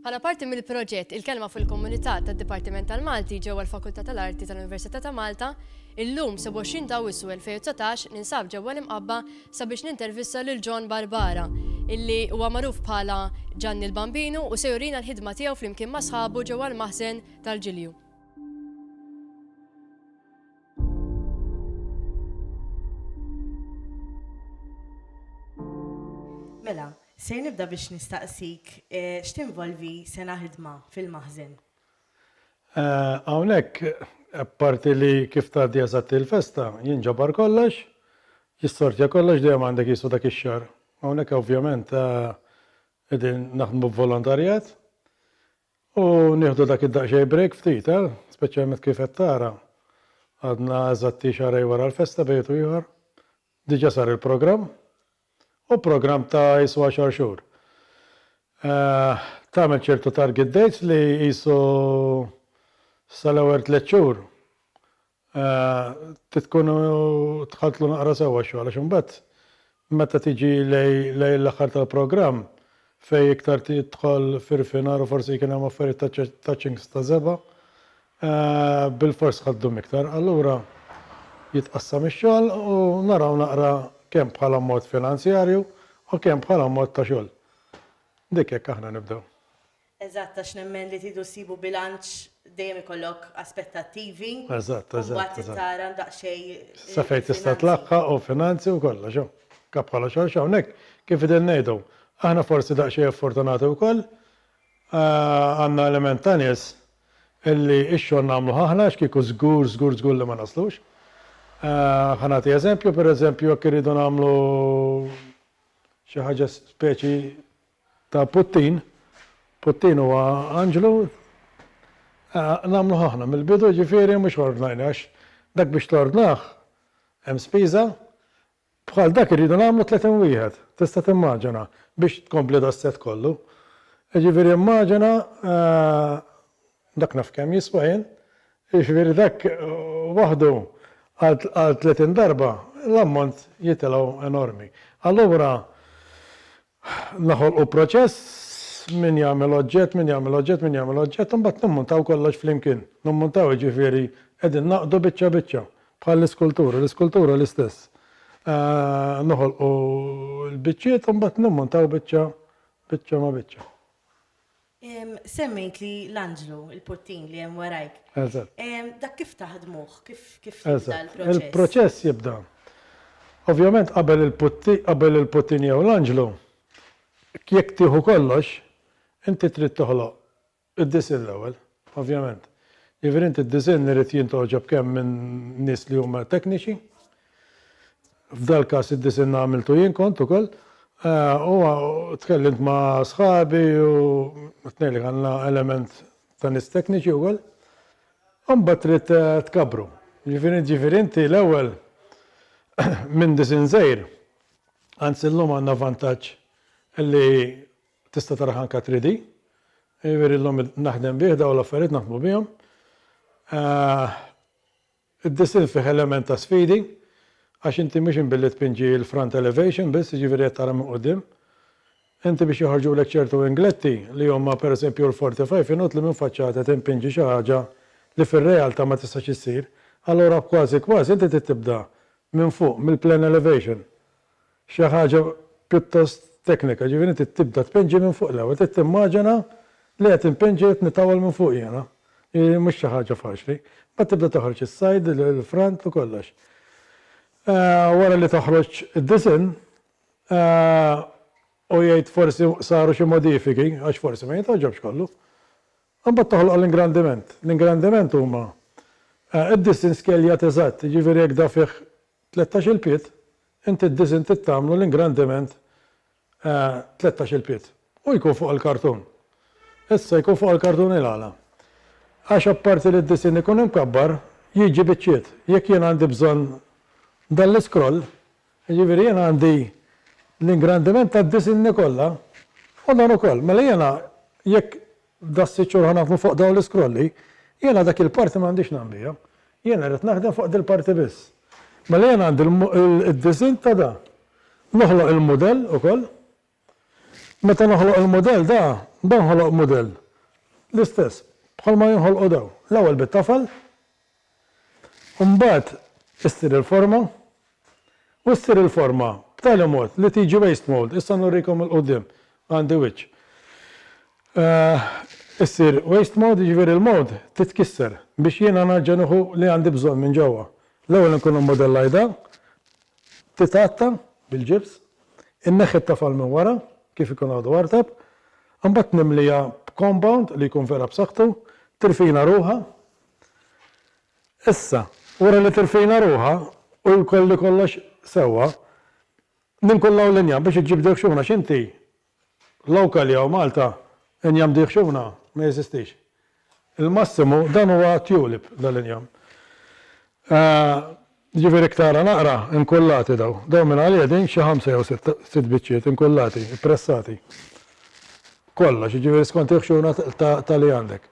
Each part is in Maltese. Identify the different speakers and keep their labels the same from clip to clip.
Speaker 1: Bħala parti mill-proġett Il-Kelma fil-Komunità tad-Dipartiment tal-Malti ġewwa l-Fakultà tal-Arti tal-Università ta' Malta, illum 27 ta' Awwissu 2019 ninsab ġewwa l-Imqabba sabiex nintervista lil John Barbara, illi huwa magħruf bħala Ġanni l-Bambinu u se jurina l-ħidma tiegħu flimkien ma' sħabu ġewwa l-maħżen tal-Ġilju.
Speaker 2: Mela, ser nibda biex nistaqsik x'tinvolvi sena ħidma fil-maħżen?
Speaker 3: Hawnhekk, apparti li kif tgħaddi eżatt il-festa, jinġabar kollox, jissortja kollox, dejjem għandek qisu dak ix-xahar. Hawnhekk ovvjament qegħdin naħdmu b'volontarjat, U nieħdu dak id-daqsxejn break ftit, eh? Speċjalment kif qed tara, għadna eżatti xahrejn wara l-festa bejn wieħed u ieħor. Diġà sar il-programm. U programm ta' qisu għaxar xhur. Tagħmel ċertu target dates li qisu sal-ewwel tliet xhur Trid tkunu tħaltlu naqra sewwa x-xogħol għax imbagħad meta tiġi lejn l-aħħar tal-programm fejn iktar tidħol f'irfinar u forsi jkun hemm affarijiet ta' touchings ta' żebgħa, bilfors ħa ddum iktar. Allura jitqassam ix-xogħol u naraw naqra kemm bħala mod finanzjarju u kemm bħala mod ta' xogħol. Dik hekk aħna nibdew. Eżatt, għax
Speaker 2: nemmen li tridu ssibu bilanċ dejjem ikollok aspettattivi. Eżatt, eżatt. U mbagħad trid
Speaker 3: tara daqsxejn.
Speaker 2: Sa fejn tista'
Speaker 3: tlaħħaq u finanzi u kollox hawn. Kap bħala xogħol x'hawn hekk kif qegħdin ngħidu. Aħna forsi daqsxejn ffortunati wkoll għandna element ta' nies illi x-xogħol nagħmluh aħna għax kieku żgur, żgur, żgur li ma naslux. Ħa nagħti eżempju, pereżempju jekk irridu nagħmlu xi ħaġa speċi Ta' Puttin, Puttin huwa anġlu, nagħmluh aħna mill-bidu, jiġifieri mhux ordnajni għax dak biex tordnah hemm spiża, bħal dak irridu nagħmlu 30 wieħed, tista' timmaġina, biex tkompli das-sett kollu. Jiġifieri immaġina dak naf kemm jiswa jien, jiġifieri dak waħdu għal 30 darba l-ammont jitilgħu enormi. Allura Noħolqu proċess, min jagħmel oġġett, min jagħmel oġġett, min jagħmel oġġett, u mbagħad nimmuntaw kollox flimkien. Nimmuntaw jiġifieri qegħdin nagħqdu biċċa biċċa, bħall-iskultura. L-iskultura l-istess. Noħolqu l-biċċiet u mbagħad nimmuntaw biċċa biċċa ma' biċċa. Semmejtli
Speaker 2: l-anġlu, il-puttin li hemm warajk. Eżatt. Dak
Speaker 3: kif
Speaker 2: taħdmuh? Kif kif jibda l-proċess? Eżatt. Il-proċess jibda.
Speaker 3: Ovvjament qabel il-putti qabel il-puttin jew l-anġlu, jekk tieħu kollox, inti trid toħloq id-disinn l-ewwel, ovvjament. Jiġifieri inti d-disinn irid jintgħoġob kemm minn nies li huma tekniċi, F'dal-każ id-disinn għamiltu jien kont ukoll u tkellimt ma' sħabi u tnejn li kellna element ta' nies tekniċi wkoll. U mbagħad trid tkabbru. Jiġifieri jiġifieri inti l-ewwel minn disinn żgħir, anzi llum għandna vantaġġ li tista' taraħ anke 3D, jiġifieri llum naħdem bih dawn l-affarijiet naħdmu bihom. Id-disinn fih element ta' sfidi għax inti mhux qed billi tpinġi l-front elevation biss, jiġifieri qed tara minn quddiem. Inti biex joħorġulek ċertu ingletti li huma pereżempju l-45 inutli minn faċċata timpinġi xi ħaġa li fir-realtà ma tistax issir, allura kważi kważi inti trid tibda minn fuq mill-plan elevation. xi ħaġa pjuttost teknika, ġifieri inti tibda tpinġi minn fuq l-ewwel, trid timmaġina li qed inpinġi qed nitawwal minn fuq jiena, jiġifieri mhux xi ħaġa faċli. Mbagħad tibda toħroġ is-side, il-front u kollox. Wara li toħroġ id-disinn u jgħid forsi saru xi modifiki għax forsi ma jitgħoġobx kollu, imbagħad toħloq l-ingrandiment. L-ingrandiment huma d-disinn skeljat eżatt, jiġifieri jekk da fih Tlettax il pied, inti d-disinn trid tagħmlu l-ingrandiment tlettax il pied u jkun fuq il-kartun. Issa jkun fuq il-kartun il-għala? Għax apparti li d-disinn ikun imkabbar, jiġi biċċiet. Jekk jien għandi bżonn dan l-iskroll, jiġifieri jien għandi l-ingrandiment tad-disinni kollha u dan ukoll. Mela jiena jekk F'da sitt xhur ħa naħdmu fuq dawn l-iskrolli. Jiena dak il-parti ma għandix ngħam biha. Jiena rrid naħdem fuq dil-parti biss. Mela jiena għandi l-disinn ta' da. Noħloq il-mudell ukoll. Meta noħloq il-mudell da, da nħoloq mudell l-istess bħalma jinħolqu dawn. L-ewwel bit-tafal, u mbagħad issir il-forma u ssir il-forma b'tali mod li tiġi waste mold, issa nurikom il-quddiem għandi wiċċ, issir waste mold jiġifieri l-mold titkisser biex jiena nerġa' nieħu li għandi bżonn minn ġewwa. L-ewwel inkun immodellajtha, titgħatta bil-ġibs, inneħħi t-tafal minn wara kif ikun għadu artab, imbagħad nimliha b'compound li jkun vera b'saħħtu, tirfina ruħha, Issa, wara li tirfina ruħha u jkolli kollox sewwa, ninkun l-hawn l-injam biex iġġib dil ħxuna x'inti? Lawka li hawn Malta injam di ħxuna ma jeżistix. Il-massimu dan huwa tulip dal-injam. Jiġifieri jekk tara naqra, inkullati dawn. Dawn minn għalija din xi ħamsa jew sitt, sitt biċċiet inkullati, ippressati. Kollox, jiġifieri skont il-ħxuna ta', ta' li għandek.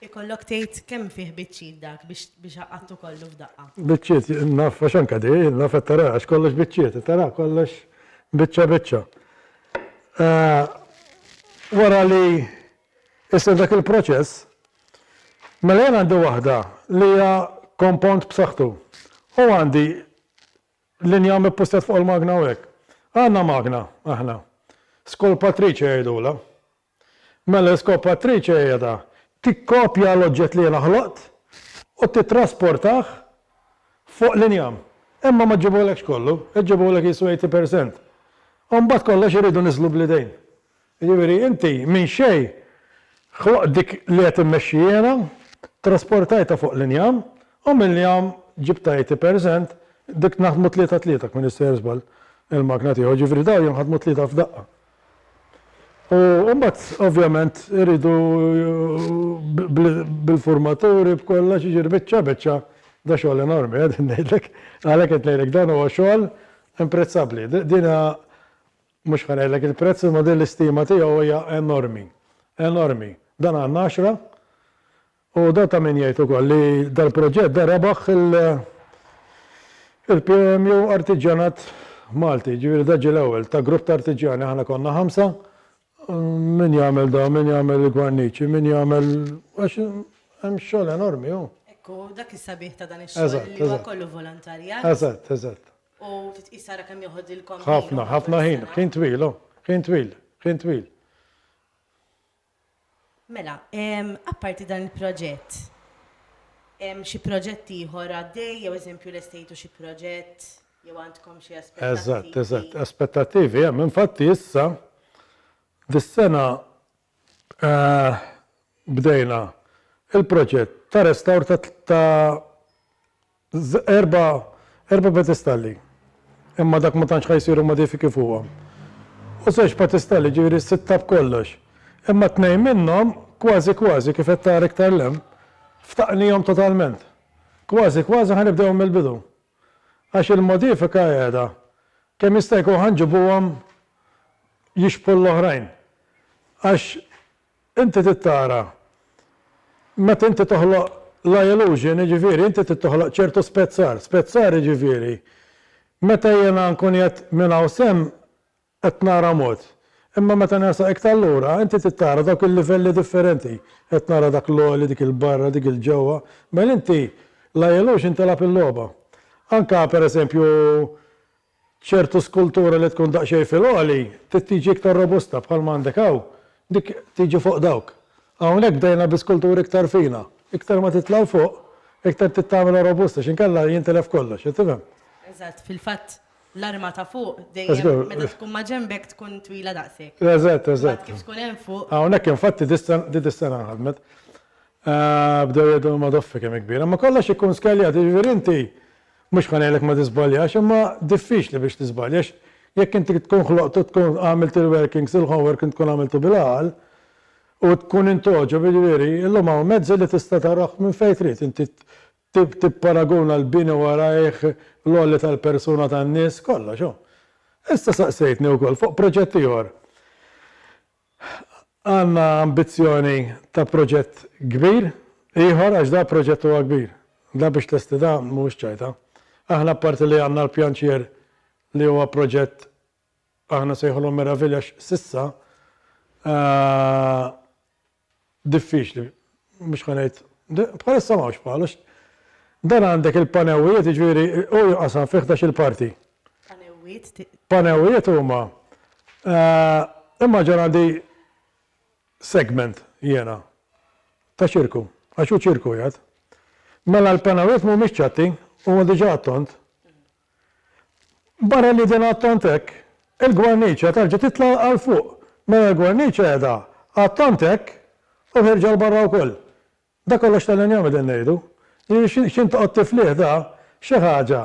Speaker 3: Ikollok
Speaker 2: tgħid kemm fih biċċiet dak biex, biex iqattgħu kollu f'daqqa. Biċċiet, naf
Speaker 3: għax anke di, naf qed taraha għax kollox biċċiet, qed taraha kollox biċċa biċċa. Wara li Issa f'dak il-proċess, mela jien għandi waħda li hija kompawnd b'saħħtu u għandi linja mippussjat fuq il-magna hawnhekk. Għandna magna aħna. Skolpatriċe jgħidulha. Mela l-iskopatriċe hija ta' tikkopja l-oġġett li jiena ħloqt u tittrasportah fuq l-injam. Imma ma ġġibulekx kollu, iġġibulek jisu 80%. U mbagħad kollox iridu niżlu bl-idejn. Jiġifieri inti minn xejn ħloqt dik li qed immexxi jiena, trasportajtha fuq l-injam, u mill-injam ġibtha 80%, dik naħdmu tlieta tlieta jekk m'iniex sejjer żball il-magna tiegħu, jiġifieri dawn jinħadmu tlieta f'daqqa. U mbagħad ovvjament iridu bil-furmaturi b'kollox, jiġifieri biċċa biċċa da xogħol enormi qegħdin ngħidlek, għalhekk qed ngħidlek dan huwa xogħol imprezzabbli. Din hija Mhux ħa ngħidlek il-prezz imma din l-istima tiegħu hija enormi. Enormi. Dan għandna għaxra u dan ta' min jgħid ukoll li dal-proġett dan rebaħ il-POMU Artiġjanat Malti, jiġifieri dan ġie l-ewwel ta' grupp ta' artiġjani, aħna konna ħamsa, min jagħmel dan, min jagħmel il-gwarniċi, min jagħmel għax hemm xogħol enormi hu. Ekku, dak is-sabiħ
Speaker 2: ta' dan ix-xogħol li huwa kollu volontarjat. Eżatt, eżatt.
Speaker 3: U titqis
Speaker 2: tara kemm joħodilkom ħin. Ħafna, ħafna ħin,
Speaker 3: ħin twil, oh, ħin twil, ħin twil.
Speaker 2: Mela, apparti dan il-proġett, hemm xi proġett ieħor għaddej, jew eżempju l-estejtu xi proġett, jew għandkom xi aspettativi? Eżatt, eżatt, aspettativi
Speaker 3: hemm, infatti issa dis-sena eh, bdejna il-proġett ta' restawr ta' Erba' erba' pedestalli, imma dak ma tantx ħa jsiru modifiki fuqhom. U żewġ pedestalli, jiġifieri sitta b'kollox. Imma tnejn minnhom kważi kważi, kif qed tara iktar 'l hemm, ftaqnihom totalment. Kważi kważi ħa nibdewhom mill-bidu. Għax il-modifika qiegħda. Kemm jista' jkun ħa nġibuhom jixbħu l-oħrajn. Għax Inti trid tara, meta inti toħloq la illusion, jiġifieri inti trid toħloq ċertu spezzar. Spezzar jiġifieri, meta jiena nkun qiegħed minn hawn s'hemm qed nara mod, imma meta nersaq iktar lura, inti trid tara dawk il-livelli differenti, qed nara dak l-għoli, dik il-barra, dik il-ġewwa. Mela inti, la illusion tilgħab il-logħba. Anke, pereżempju, Ċertu skultura li tkun daqsxejn fil-għoli trid tiġi iktar robusta bħalma għandek hawn, dik tiġi fuq dawk. Hawnhekk bdejna bi skulturi iktar fina. Iktar ma titla' 'l fuq, iktar trid tagħmilha robusta x'inkella jintilef kollox, qed tifhem?
Speaker 2: Eżatt, fil-fatt l-arma ta' fuq dejjem meta tkun ma' ġenbek tkun twila daqshekk. Eżatt, eżatt. Imbagħad kif tkun
Speaker 3: hemm fuq.
Speaker 2: Hawnhekk infatti din
Speaker 3: is-sena nħadmet. Bdew jgħidu l-madoffi kemm hi kbira. Imma kollox ikun skeljat, jiġifieri inti. Mhux ħa ngħidlek ma tiżbaljax, imma diffiċli biex tiżbalja għax jekk inti tkun ħloqt u tkun għamilt il-workings, il-homeworking tkun għamiltu bil-għaqal u tkun int għoġob, jiġifieri, illum hawn mezzi li tista' tarah minn fejn trid, inti tipparaguna l-bini warajh, l-għoli tal-persuna tan-nies, kollox, hu. Issa saqsejtni wkoll fuq proġett ieħor. Għandna ambizzjoni ta' proġett kbir ieħor għax da' proġett huwa kbir. Da' biex tlesti da' mhuwiex ċajta. Aħna apparti li għandna l-pjanċier li huwa proġett aħna nsejħulu meravilja għax s'issa diffiċli, mhux ħa ngħid, bħalissa m'hawnx bħalu, dan għandek il-panewwijiet, jiġifieri hu jinqasam fi ħdax-il parti. Panewwiet? Panewwiet huma immaġina għandi segment jiena ta' ċirku, għax hu ċirku jgħid. Mela l-panewwiet mhumiex ċatti, huma diġà għat-tond, Barra li din għad tant hekk, il-gwarniċja terġa' titla' għal fuq. Mela l-gwarniċja qiegħda għad tant hekk u ħierġa 'l barra wkoll. Dak kollox tal-injam qegħdin ngħidu. Jiġifieri x'int toqgħod tiflih da xi ħaġa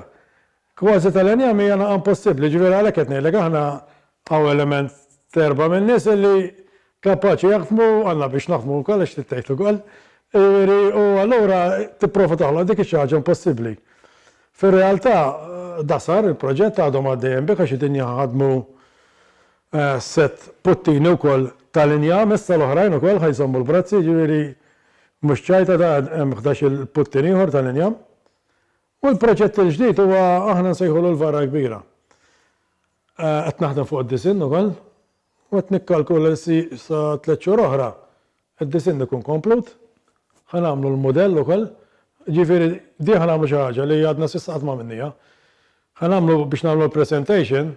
Speaker 3: kważi tal-injam hija naqa' impossibbli. Jiġifieri għalhekk qed ngħidlek aħna Hawn element ta' erba' min-nies illi kapaċi jaħdmu, għandna biex naħdmu wkoll għax trid tgħix ukoll, jiġifieri u allura tipprova toħloq dik ix-xi ħaġa impossibbli. Fir-realtà da sar il-proġett għadhom għaddejjin bih għax qegħdin jaħdmu sett puttini wkoll tal-injam issa l-oħrajn ukoll ħa jżommu l-brazzi jiġifieri mhux ċajta da hemm ħdax-il puttin ieħor tal-injam u l-proġett il-ġdid huwa aħna nsejħulu l-varra kbira. Qed naħdem fuq id-disinn ukoll u qed nikkalkula li sa tliet xhur oħra d-disinn ikun komplut. Ħa nagħmlu l-mudell ukoll. Ġifieri din ħa nagħmlu xi ħaġa li għadna s'issa qatt m'għamilniha. Ħa nagħmlu biex nagħmlu l-presentation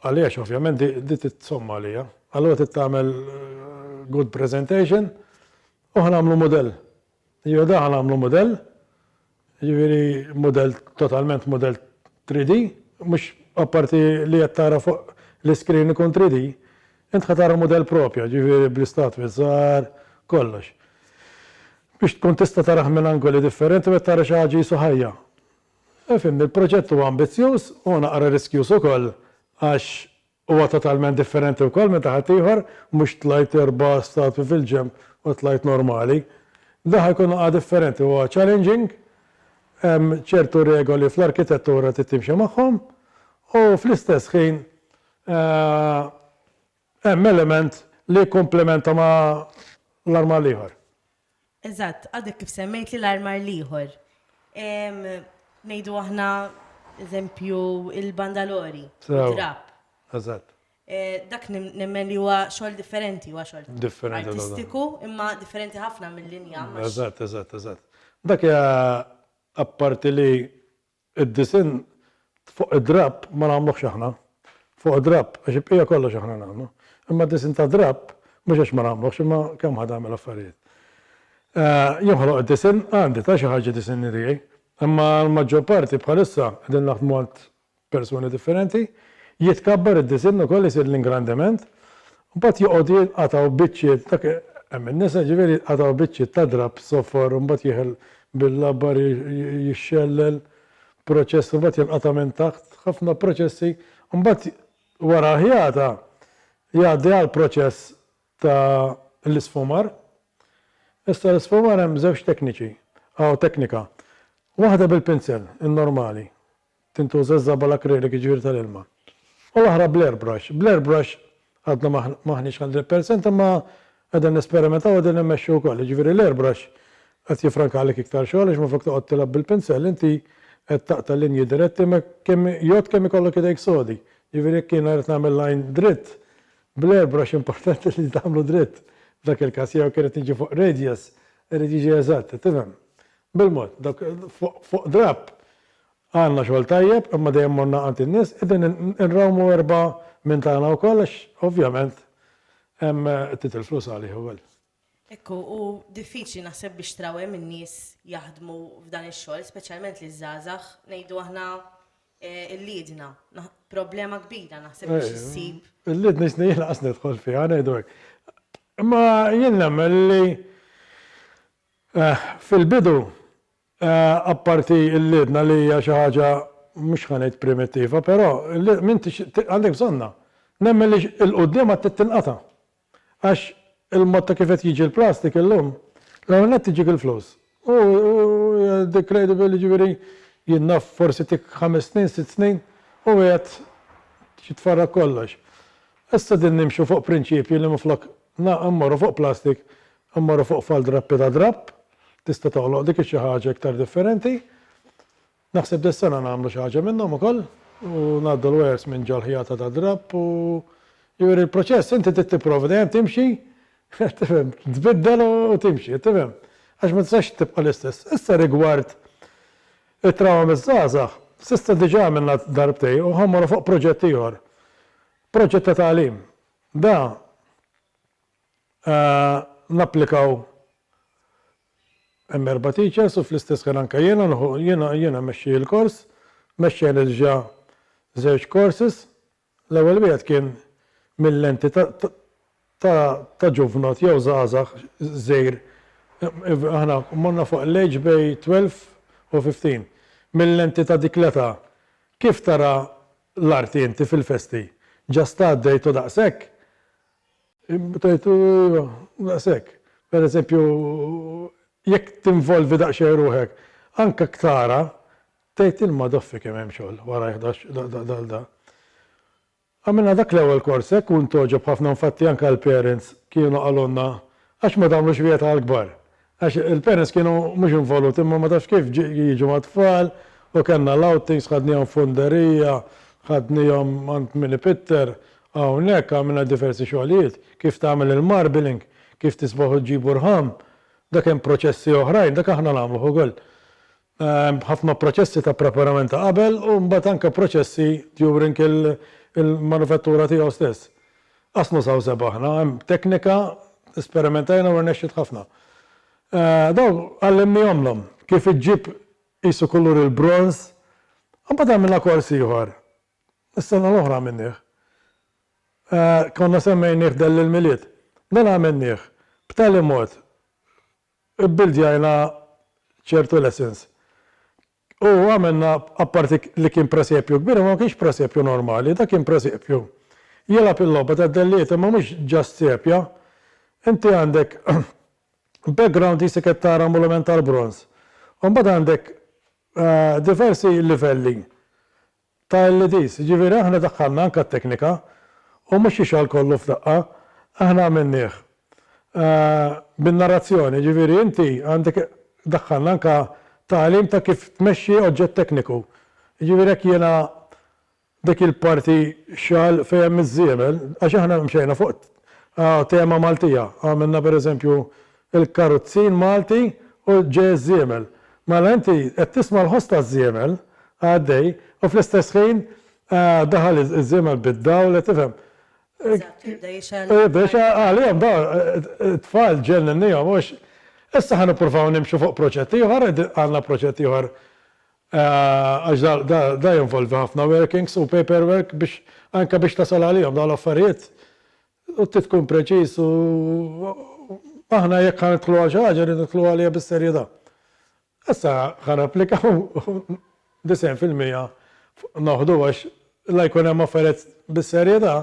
Speaker 3: għaliex ovvjament din trid somma għalija. Allura trid tagħmel good presentation u ħa nagħmlu mudell Iva daħal għamlu mudell, jiġifieri mudell totalment mudell 3D, mhux apparti li qed tara fuq l-iskrin ikun 3D, int ħa tara mudell proprju, jiġifieri bl-istatwi żgħar, kollox. Biex tkun tista' tarah minn angoli differenti u qed tara xi ħaġa qisu ħajja. Ifhimni, il-proġett huwa ambizzjuż, huwa naqra riskjuż ukoll għax Huwa totalment differenti wkoll meta ħaddieħor, mhux tlajt erba' statwi fil-ġenb u tlajt normali. Dan ħa jkun ħa differenti, huwa challenging, hemm ċertu regoli fl-arkitettura trid timxi magħhom u fl-istess ħin hemm element li jikkumplimenta ma' l-arma l-ieħor. Eżatt,
Speaker 2: għadek kif semmejtli l-armar l-ieħor. Ngħidu aħna, eżempju, il-bandalori, id-drapp. Eżatt.
Speaker 3: Dak
Speaker 2: nemmen li huwa xogħol differenti, huwa xogħol artistiku,
Speaker 3: imma
Speaker 2: differenti ħafna mill-linja. Eżatt, eżatt, eżatt.
Speaker 3: Dak hija apparti li Id-disinn fuq id-drapp ma nagħmluhx aħna. Fuq id-drapp, għax il-bqija kollox aħna nagħmlu. Imma d-disinn tad-drapp, mhux għax ma nagħmluhx, imma kemm ħa tagħmel affarijiet. Jinħoloq id-disinn għandi, ta' xi ħaġa d-disinni tiegħi. Imma l-maġġor parti bħalissa qegħdin naħdmu għand persuni differenti. Jitkabbar id-disinn ukoll isir l-ingrandiment Mbagħad joqogħdu jinqatgħu biċċiet, dak hemm in-nisa jiġifieri jinqatgħu biċċiet ta' drapp soffor u mbagħad jieħel bil-labbar jixxellel, proċess u mbagħad jinqata' minn taħt, ħafna proċessi. Mbagħad wara l-ħjata jgħaddi għall-proċess ta' l-isfumar. Issa l-isfumar hemm żewġ tekniċi, aw teknika. Waħda bil-pinsel, in-normali. Tintuża ż-żabal akrilik, jiġifieri tal-ilma. U l-oħra bl-air brush. Bl-air brush għadna ma m'aħniex hundred percent imma qegħdin nesperimentaw u qegħdin immexxu wkoll. Jiġifieri l-air brush qed jiffrankalek iktar xogħol għax minflok toqgħod tilgħab bil-pinsell inti qed taqta' linji diretti ma kemm jgħodd kemm ikollok idejk sodi. Jiġifieri jekk jiena rrid nagħmel line dritt, bl-air brush importanti li tagħmlu dritt f'dak il-każ jew jekk irrid niġi fuq radius irid jiġi eżatt, qed tifhem? Bil-mod, dawk fuq drapp Għandna xogħol tajjeb imma dejjem morna għand in-nies, qegħdin inrawmu erbgħa minn tagħna wkoll għax ovvjament hemm qed titilf flus għalih ukoll. Hekk hu, hu
Speaker 2: diffiċli naħseb biex trawwem in-nies jaħdmu f'dan ix-xogħol, speċjalment liż-żgħażagħ, ngħidu aħna l-liedna. Problema kbira naħseb biex issib. Il-liedna jisni jien lanqas
Speaker 3: nidħol fiha ngħidu hekk. Imma jien nemmen li fil-bidu Apparti l-liedna li hija xi ħaġa mhux ħa ngħid primittiva, però m'intix għandek bżonnha. Nemmen li 'l quddiem għad trid tinqata'. Għax il-mod ta' kif qed jiġi l-plastik illum, l-ewwel nett iġik il-flus. U hija decradable jiġifieri jien naf forsi tik ħames snin, sitt snin u qiegħed jitfarrak kollox. Issa qegħdin nimxu fuq prinċipji li minflok immorru fuq plastik, immorru fuq fal-drappi ta' drapp, tista' toħloq dik ix-xi ħaġa iktar differenti. Naħseb dis-sena nagħmlu xi ħaġa minnhom ukoll u ngħaddu l-wires minn ġol-ħjata tad-drapp u jiġifieri l-proċess inti trid tipprova dejjem timxi tifhem, tbiddel u timxi, tifhem? Għax ma tistax tibqa' l-istess. Issa rigward it-trawma miż-żgħażagħ, s'issa diġà għamilna darbtejn u ħa mmorru fuq proġett ieħor. Proġett ta' tagħlim. Da Napplikaw hemm erba' teachers u fl-istess ħin anke jiena nieħu jiena jiena mmexxi l-kors, mexxejn ilġa żewġ courses, l-ewwel wieħed kien mil-lenti ta' ta' ta' ġuvnot jew żgħażagħ żgħir aħna morna fuq l-age bej 12 u 15, mil-lenti ta' dik l-età kif tara l-arti inti fil-festi? Just għaddejtu daqshekk? Tajtu, iva, daqshekk. Per eżempju, jekk tinvolvi daqsxejn ruħek, anke jekk tara, tgħid il-madoffi kemm hemm xogħol warajh dal da. Għamilna dak l-ewwel kors hekk u ntgħoġob ħafna infatti anke l-parents kienu qalulna għax ma tagħmlux wieħed għall-kbar. Għax il-parents kienu mhux involuti imma ma tafx kif jiġu mat-tfal u kellna l-outings ħadnihom f'Underija, ħadnihom għand min ipitter, hawnhekk għamilna diversi xogħlijiet, kif tagħmel il-marbling, kif tisbaħu ġġibu rħam, dak hemm proċessi oħrajn, dak aħna nagħmluh ukoll. ħafna proċessi ta' preparament ta' qabel u mbagħad anke proċessi during il-manufattura tiegħu stess. Qass nużaw żebgħa aħna, hemm teknika, esperimentajna u rnexxiet ħafna. Dawn għallimnihomlhom kif iġġib qisu kulur il-bronż. Mbagħad għamilna kors ieħor, is-sena l-oħra għamilnieh. Konna semmejnieh Dell il-Milied. Dan għamilnieh b'tali mod Ibbuildjajna ċertu lessons. U għamilna, apparti li kien presepju kbir, imma ma kienx presepju normali, dak kien presepju. Jilgħab il-logħba tad-dellijiet imma mhux just sepja. Inti għandek background jisek qed tara molument tal-bronż. U mbagħad għandek diversi livelli ta' LEDs, jiġifieri aħna daħħalna anke t-teknika u mhux jixgħol kollu f'daqqa, aħna għamilnieh bin-narrazzjoni, jiġifieri inti għandek daħħalna anke tagħlim ta' kif tmexxi oġġett tekniku. Jiġifieri hekk jiena dik il-parti xagħal fejn hemm iż-żiemel, għax aħna mxejna fuq tema Maltija, għamilna pereżempju Il-karuzzin Malti u ġeż-żiemel. Mela inti qed tisma' l-ħoss taż-żiemel għaddej u fl-istess ħin daħal iż-żiemel bid-dawl qed tifhem. Eżatt, jibda jixgħel. U jibda jixgħel għalihom dawn it-tfal ġenninniehom u hekk. Issa ħa nippruvaw nimxu fuq proġett ieħor, għandna proġett ieħor għax dan jinvolvi ħafna workings u paperwork biex anke biex tasal għalihom dawn l-affarijiet U trid tkun preċiż u aħna jekk ħa nidħlu għal xi ħaġa rridu nidħlu għaliha bis-serjetà. Issa ħa napplikaw u disgħin fil-mija noħdu għax la jkun hemm affarijiet bis-serjetà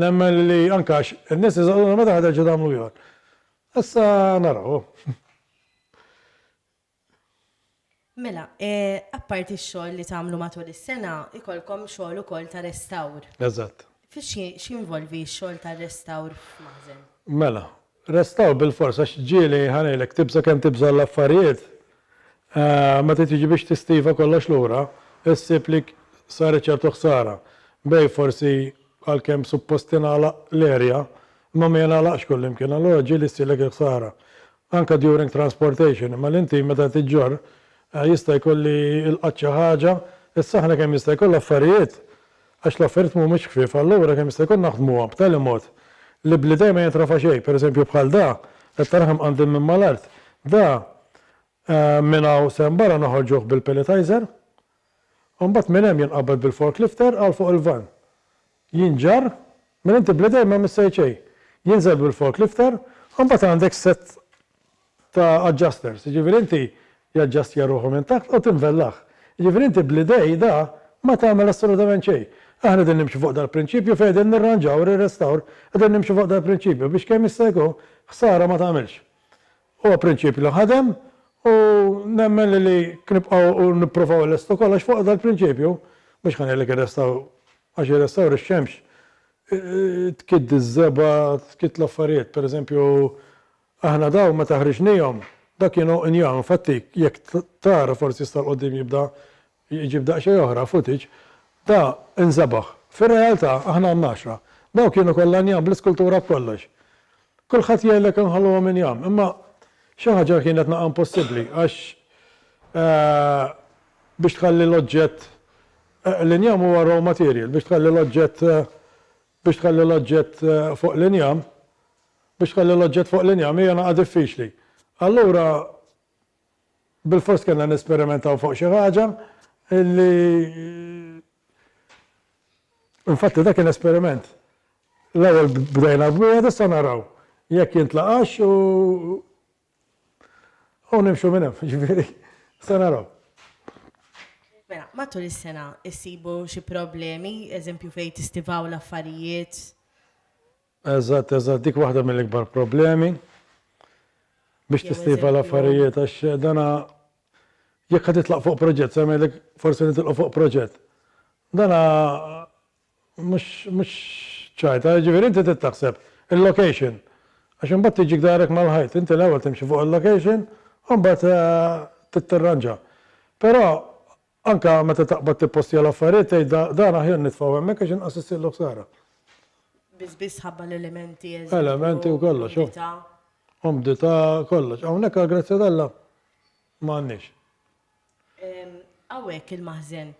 Speaker 3: nemmen li anke għax in-nies iżgħożuna meta ħa terġgħu tagħmlu ieħor. Issa naraw.
Speaker 2: Mela, apparti x-xogħol li tagħmlu matul is-sena, ikollkom xogħol ukoll ta' restawr. Eżatt.
Speaker 3: X'jinvolvi
Speaker 2: x-xogħol tar-restawr f'maħżen? Mela,
Speaker 3: restawr bilfors għax ġieli ħa ngħidlek, tibża' kemm tibża' l-affarijiet, meta tiġi biex tistiva kollox lura, issib li saret ċertu ħsara. Bejn forsi għalkemm suppost tingħalaq l-erja, imma ma jingħalaqx kullimkien, allura ġieli ssirlek il-ħsara. Anke during transportation, imma l-inti meta qed iġġorr jista' jkun li lqatt xi ħaġa, issa aħna kemm jista' jkun l-affarijiet, għax l-affarijiet m'humiex ħfief, allura kemm jista' jkun naħdmuhom b'tali mod li bl-idejn ma jintrafa' xejn, pereżempju bħal da, qed tara kemm qandil minn mal-art, da minn hawn s'hemm barra noħorġuh bil-pelletizer, u mbagħad minn hemm jinqabad bil-forklifter għal fuq il-vann. jinġarr minn inti bl-idejn m'hemm issejt xejn, jinżel bil-forklifter u mbagħad għandek sett ta' adjusters, jiġifieri inti jaġġastja ruħu minn taħt u tinvellah. Jiġifieri inti bl-idej da ma tagħmel assolutament xejn. Aħna qegħdin nimxu fuq dal-prinċipju fejn qegħdin nirranġaw, rirrestawr, qegħdin nimxu fuq dal-prinċipju biex kemm jista' jkun ħsara ma tagħmilx. Huwa prinċipju li ħadem u nemmen li li nibqgħu u nipprovaw nlestu kollox fuq dal-prinċipju, mhux ħa ngħidlek irrestaw għax irrestawr ix-xemx tkidd iż-żebgħa, tkidd l-affarijiet. Pereżempju, aħna dawn meta ħriġnihom, dak kienu injam, infatti jekk tara forsi issa 'l quddiem jibda Iġib daqsxejn oħra footage ta' inżebaħ. Fir-realtà aħna għandna għaxra. Dawk kienu kollha njam bl-iskultura b'kollox. Kulħadd jgħidlek inħalluhom injam, imma xi ħaġa kienet naqa' impossibbli għax biex tħalli l-oġġett l-injam huwa raw material, biex tħalli l-oġġett biex tħalli l-oġġett fuq l-injam biex tħalli l-oġġett fuq l-injam hija naqa' diffiċli. Allura Bilfors kellna nesperimentaw fuq xi ħaġa li infatti dak kien esperiment. L-ewwel bdejna b'wieħed issa naraw jekk jintlaqax u u nimxu minn hemm, ġifieri se naraw.
Speaker 2: Mela, matul is-sena issibu xi problemi, eżempju fejn tistivaw l-affarijiet?
Speaker 3: Eżatt, eżatt, dik waħda mill-ikbar problemi biex tistejfa l-affarijiet għax dana jekk ħa titlaq fuq proġett, se ngħidlek forsi nitilqu fuq proġett. Dana mhux mhux ċajta, jiġifieri inti trid taħseb il-location għax imbagħad tiġik darek mal-ħajt, inti l-ewwel timxi fuq il-location u mbagħad trid tirranġa. Però Anke meta taqbad tippostja l-affarijiet tgħid dan aħjar nitfgħu hemmhekk għax inqas issirlu ħsara. Biss
Speaker 2: biss ħabba l-elementi eżempju. Elementi u
Speaker 3: kollox. Umdità. Umdità kollox. Hawnhekk għal grazzja t'Alla ma għandniex.
Speaker 2: Hawnhekk il-maħżen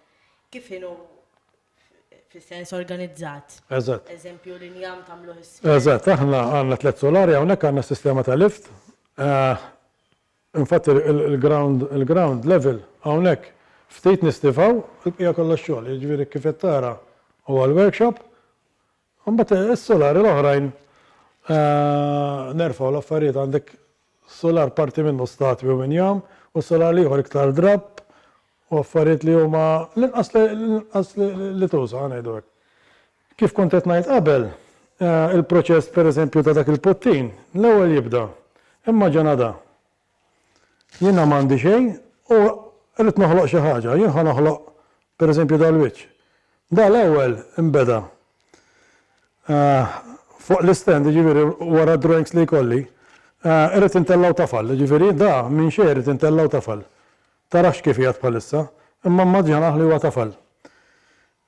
Speaker 2: kif inhu fis-sens organizzat. Eżatt. Eżempju
Speaker 3: l-injam
Speaker 2: tagħmluh is-. Eżatt, aħna
Speaker 3: għandna tliet sulari hawnhekk għandna sistema ta' lift. Infatti l-ground il-ground level hawnhekk ftit nistifgħu, il-bqija kollha x-xogħol, jiġifieri kif qed tara huwa l-workshop, u mbagħad is-sulari l-oħrajn nerfgħu l-affarijiet għandek sular parti minnu statwi u injam u sular l-ieħor iktar drapp u affarijiet li huma l-inqas li l-inqas li tuża, ħa ngħidu hekk. Kif kont qed ngħid qabel, il-proċess pereżempju ta' dak il-puttin, l-ewwel jibda, imma ġa nada. Jiena m'għandi xejn u rrid noħloq xi ħaġa, jien ħa noħloq pereżempju dal-wiċċ. Da l-ewwel inbeda fuq l-istand, jiġifieri wara d-drawings li jkolli, irrid intellgħu tafal, jiġifieri da minn xejn irrid intellgħu tafal. Tarax kif qiegħed bħalissa, imma mmaġinaħ li huwa tafal.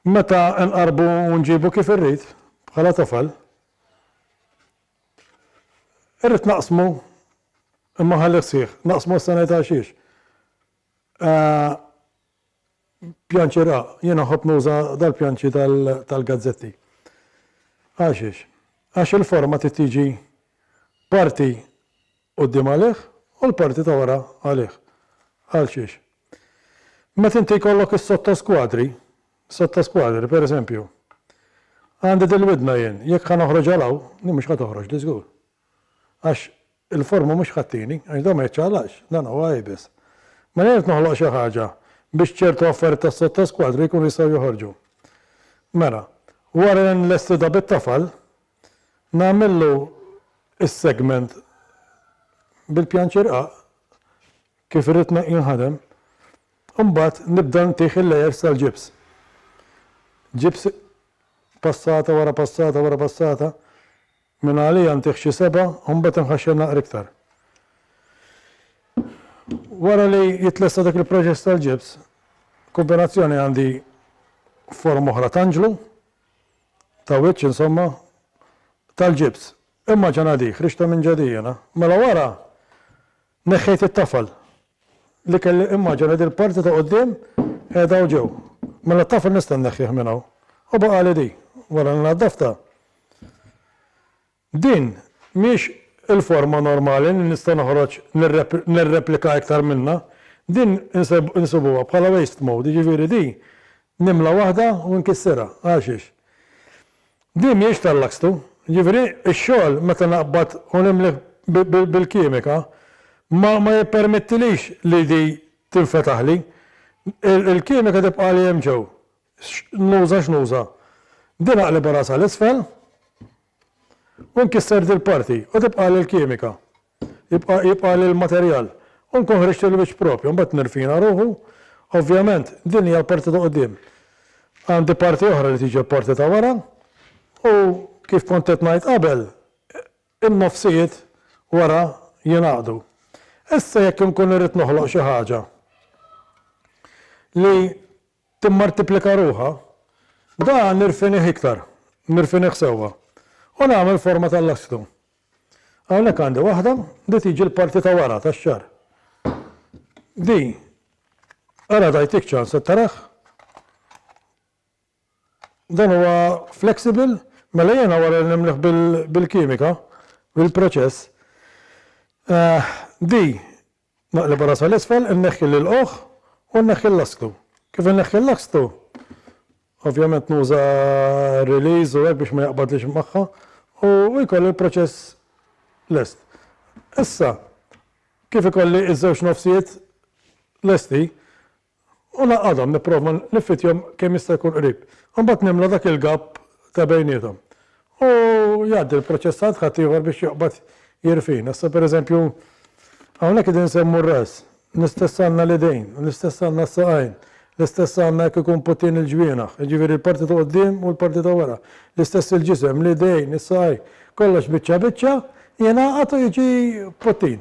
Speaker 3: Meta nqarrbu u nġibu kif irrid, bħala tofal, irrid naqsmu, imma nħallih sħiħ. Naqsmu issa ngħidha għaxiex. Pjanċi ra, jiena nħobb nuża dal-pjanċi tal-gazzetti. Għaxiex? Għax il-forma trid tiġi parti quddiem għalih u l-parti ta' wara għalih. Għalxiex? Meta inti jkollok is-sottoskwadri, sottoskwadri, per eżempju, għandi dil-widna jien, jekk ħa noħroġ għal hawn, din mhux ħa toħroġli żgur. Għax il-forma mhux ħa ttini, għax dan ma jiċċaqlaqx, dan huwa iebes. Mela jien qed noħloq xi ħaġa biex ċertu affarijiet tas-sottoskwadri jkunu jistgħu joħorġu. Mela, wara li nlesti da bit-tafal, Nagħmillu s-segment bil-pjanċirqaq kif irrid jinħadem u mbagħad nibda ntih il-layers tal-ġibs. Ġibs passata wara passata wara passata minn għalija ntih xi seba' u mbagħad inħaxxen naqra iktar. Wara li jitlesta dak il-proċess tal-ġibs, kumbinazzjoni għandi forma oħra t'anġlu ta' wiċċ, insomma, tal-ġibs. Imma ġa ngħadik, ħriġtha minn ġadi jiena. Mela wara, neħħejt it-tafal li kelli, immaġina din il-parti ta' quddiem qiegħda hawn ġew. Mela t-tafal nista' nneħħih minn hawn. U baqgħali di, wara li naddaftha. Din mhix il-forma normali li nista' noħroġ nirreplika iktar minnha. Din insibuha bħala waste mode, jiġifieri di nimla waħda u nkissirha. Għalxiex? Di mhijiex tal-Luxtoo. Jiġifieri x-xogħol meta naqbad u nimli bil-kimika ma jippermettilix li di tinfetaħli. Il-kimika tibqagħli hemm ġew X'nuża x'nuża? Din aqlibha rasha 'l isfel u nkisser dil-parti u tibqagħli l-kimika. Jibqa' jibqagħli l-materjal u nkun ħriġt il-wiċċ proprju. Mbagħad nirfina ruħu. Ovvjament din hija l-parti ta' quddiem. Għandi parti oħra li tiġi l-parti ta' wara u kif kont qed ngħid qabel in-nofsijiet wara jingħaqdu. Issa jekk inkun irrid noħloq xi ħaġa li timmartiplika ruħha, dan nirfinih iktar, nirfinih sewwa, u nagħmel forma tal-lastru. Hawnhekk għandi waħda li tiġi l-parti ta' wara tax-xagħar. Di, ara tajtik ċans qed tarah? Dan huwa flexible, mela jiena wara li nimliħ bil-kimika, bil-proċess, di Naqlibha rasa 'l isfel, inneħħi l-ilqugħ u nneħħi l-lasktu. Kif inneħħi l-lasktu, ovvjament nuża r-release u hekk biex ma jaqbadlix magħha u jkolli l-proċess lest. Issa, kif ikolli ż-żewġ nofsijiet lesti, U naqgħadhom, nipprova niffitjhom kemm jista' jkun qrib. Imbagħad nimla dak il-gap ta' bejniethom. U jgħaddi l-proċessant ħaddieħor biex joqbad jirfina. Issa pereżempju, hawnhekk qegħdin insemmu r-ras. L-istess għandna l-idejn, l-istess għandna s-saqajn, l-istess għandna jekk ikun putin il-ġwienaħ, jiġifieri l-parti ta' quddiem u l-parti ta' wara. L-istess il-ġisem, l-idejn, is-saqajn, kollox biċċa biċċa jingħaqad u jiġi putin.